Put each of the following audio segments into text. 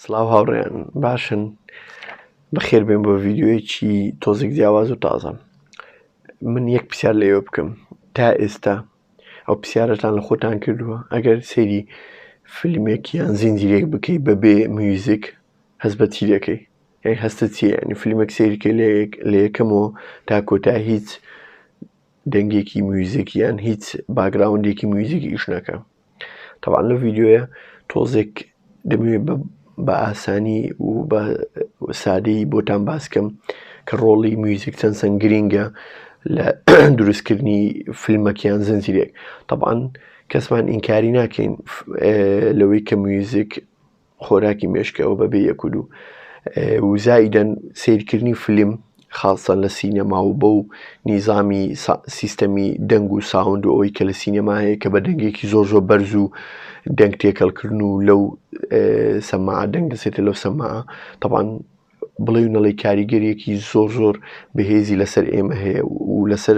سلااو هاوڕێیان باشن بەخێر بێن بۆ ڤیددیوەیەکی تۆزێک جیاواز و تازەم من یەک پرسیار لەوێ بکەم تا ئێستا ئەو پرسیارەتان لە خۆتان کردووە ئەگەر سێری فیلمێک یان زیندیرێک بکەیت بەبێ میوزیک هەست بە چی دەکەی یان هەستە چیە ینی فیلمێک سێریکە لە یەکەمەوە تا کۆتا هیچ دەنگێکی میوزیک یان هیچ باگراوندێکی میوزیک ئیش نەکە تەبعەن لەو ڤیدیۆیە تۆزێک دەمەوێت بە ئاسانی و بە سادەی بۆتان باسکەم کە ڕۆڵی میوزیک چەند سەنگ گرینگە لە دروستکردنی فیلمەکیان زنجیرێک تەبعاان کەسمان ئینکاری ناکەین لەوەی کە میوزیک خۆراکی مێشکەوە بەبێ یەک و دوو و زایدەن سیرکردنی فلیم خاڵسە لە سینەما و بەو نیزامی سیستەمی دەنگ و ساوند و ئەوەی کە لە سینەما هەیە کە بە دەنگێکی زۆر زۆر بەرز و دەنگ تێکەڵکردن و لەو سەما دەنگ دەسێتە لەو سەما تەبان بڵێ و نەڵی کاریگەریەکی زۆر زۆر بەهێزی لەسەر ئێمە هەیە و لەسەر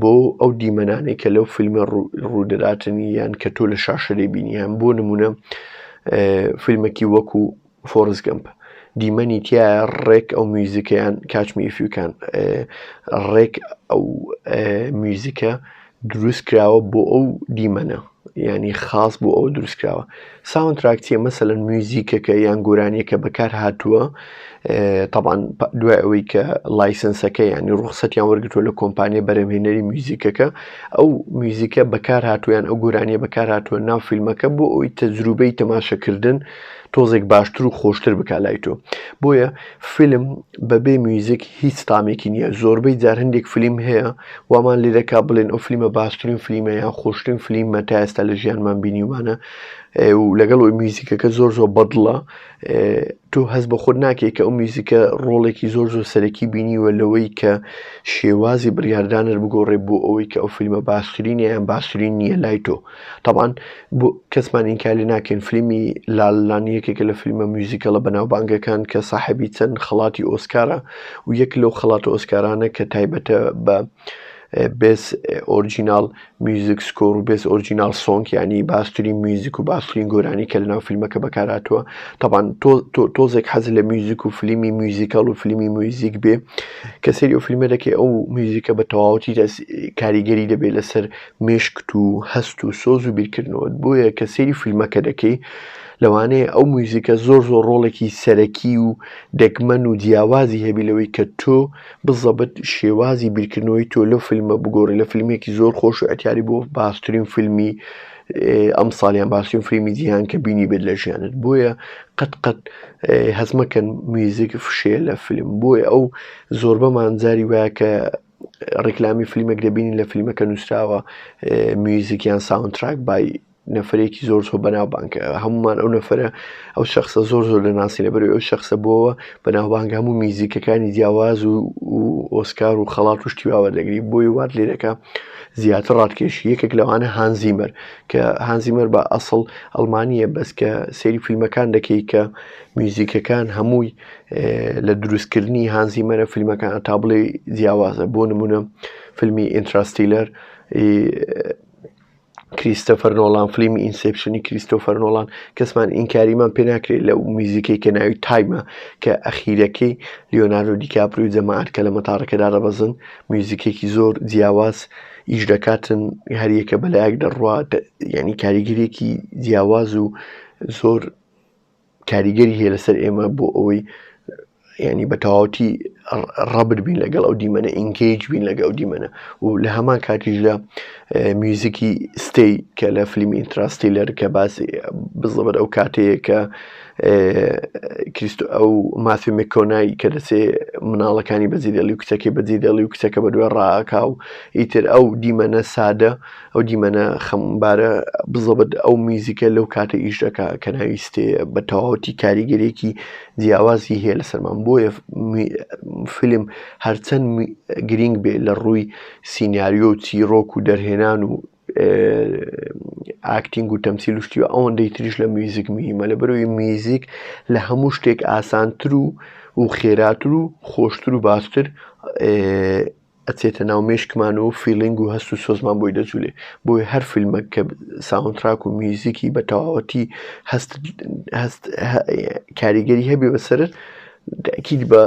بۆ ئەو دیمەنانەی کە لەو فیلمە ڕوودەداتن یان کە تۆ لە شاشە دەبینیان بۆ نمونە فیلمەکی وەکو فۆرس گەمپ دیمەنی تیا ڕێک ئەو میوزیکەیان کاتمی فیوکان ڕێک ئەو میوزیکە دروست کراوە بۆ ئەو دیمەنە یانی خاس بۆ ئەو دروستکراوە ساون تراک چیە مەسەن میوزیکەکە یان گۆرانیەکە بەکار هاتووە تاان دوای ئەوەی کە لایسنسەکە ینی ڕوخسەتیان وەرگتووە لە کۆمپانیە بەرەمهێنەری میوزیکەکە ئەو میوزیکە بەکار هاتوویان ئەو گۆرانیە بەکار هاتووە ناو فیلمەکە بۆ ئەوی تەجروبەی تەماشەکردن تۆزێک باشتر و خۆشتر بکە لای تۆ بۆیە فیلم بەبێ میوزیک هیچ تامێکی نییە زۆربەی جار هەندێک فیلم هەیە وامان لێ دەکا بڵێن ئەو فلیمە باشترین فلیمە یان خۆشترین فلیمە تا ئێستا لە ژیانمان بینیومانە و لەگەڵ ئەوی میوزیکەکە زۆر زۆر بەدڵە تۆ هەز بە خۆت ناکەی کە ئەو میوزیکە ڕۆڵێکی زۆر زۆر سەرەکی بینیوە لەوەی کە شێوازی بڕیاردانر بگۆڕێ بۆ ئەوەی کە ئەو فیلمە باشترینیان باشترین نییە لای تۆ تەبعەن بۆ کەسمان ئینکار لێ ناکەین فلیمی لاللان یەکێکە لە فلیمە میوزیکەڵە بەناوبانگەکان کە ساحەبی چەند خەڵاتی ئۆسکارە و یەک لەو خەڵاتە ئۆسکارانە کە تایبەتە بە بێس ئۆرجینال میوزیک سکۆر و بێس ئۆرجینال سۆنگ ینی باستری میوزیک و باسترین گۆرانی کە لەناو فیلمەکە بەکاراتوە تاوان تۆزێک حەز لە میوزیک و فلیمی میوزیکال و فلیمی میوزیک بێ کە سری و فیلمە دەکەی ئەو میوزیکە بە تەواوەتی کاریگەری دەبێت لەسەر مێشکت و هەست و سۆز و بیرکردنەوەت بۆیە کە سەیری فیلمەکە دەکەی لەوانەیە ئەو مویزیکە زۆر زۆر ڕۆڵێکی سەرەکی و دەگمەن و جیاوازی هەبی لەوەی کە تۆ بزەبت شێوازی بیرکردنەوەی تۆ لەو فیلمە بگۆڕی لە فیلمێکی زۆر خۆش و ئەتیاری بۆ باسترین فیلمی ئەم ساڵیان باسیون فریمی جیهان کە بینی بێت لە ژیانت بۆیە قەت قەت هەزمەکەن میزیک فشەیە لە فیلم بۆیە ئەو زۆربەمان جاری وایە کە ڕیکلامی فلیمێک دەبینین لە فلیمەکە نووسراوە میوزیک یان ساونتراک بای نەفرێکی زۆر زۆر بەناوبانگ هەمومان ئەو نەفرە ئەو شخصە زۆر زۆر لە ناسی لەبەر ئەو شخصە بۆەوە بەناوبانگ هەموو میزیکەکانی جیاواز و ئۆسکار و خەڵات و شتیواوە دەگری بۆی وات لێرەکە زیاتر ڕاتکێشی یەکێک لەوانە هانزیمەر کە هانزیمەر بە ئەسڵ ئەلمانیە بەس کە سەیری فیلمەکان دەکەی کە میوزیکەکان هەمووی لە دروستکردنی هانزیمەرە فیلمەکان تا بڵێ جیاوازە بۆ نمونە فیلمی ئینتراستیلەر کریستەفەر نۆڵان فلیمی ئینسپشنی کریستۆفەر نۆڵان کەسمان ئینکاریمان پێ ناکرێت لە میزیکەی کە ناوی تایمە کە ئەخیرەکەی لیۆناردۆ دیکاپری و جەماعات کە لە مەتاڕەکەدا دەبەزن میوزیکێکی زۆر جیاواز ئیش دەکاتن هەریەکە بەلایەک دەڕوات یعنی کاریگەرێکی جیاواز و زۆر کاریگەری هەیە لەسەر ئێمە بۆ ئەوەی ینی بە تەواوەتی ڕەبر بین لەگەڵ ئەو دیمەنە ئینگەیج بین لەگە ئەو دیمەنە و لە هەمان کاتیشدا میوزیکی ستەی کە لە فلیمی ئینتراستی لەر کە باسی بزڵبەر ئەو کاتەیە کە کریستو ئەو مافی مکۆنایی کە دەسێ مناڵەکانی بەزیدەڵی و کچەکەی بەزیدەڵی و کچەکە بە دوێ ڕاکاو ئیتر ئەو دیمەنە سادە ئەو دیمەنە خەمبارە بزەبت ئەو میزیکە لەو کاتە ئیش دەکا کە ناویستێ بە تەواوەتی کاریگەرێکی جیاوازی هەیە لە سەرمان بۆیە فیلم هەرچەند گرینگ بێ لە ڕووی سینناریۆ و چیرۆک و دەرهێنان و ئاکتینگ و تەمسیل شتی و ئەوەندەی تریش لە میزیک مهمە لە بەرەوەی میزیک لە هەموو شتێک ئاسانتر و و خێراتر و خۆشتر و باشتر ئەچێتە ناو مێشکمان و فیلینگ و هەست و سۆزمان بۆی دەجولێ بۆی هەر فیلمەک کە ساونتراک و میوزیکی بە تەواوەتی هەست هەست کاریگەری هەبێ بەسرت دەکیت بە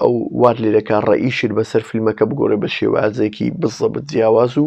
ئەو وار لێ دەکا ڕئیشت بەسەر فیلمەکە بگۆڕێ بە شێوازێکی بزەبت جیاواز و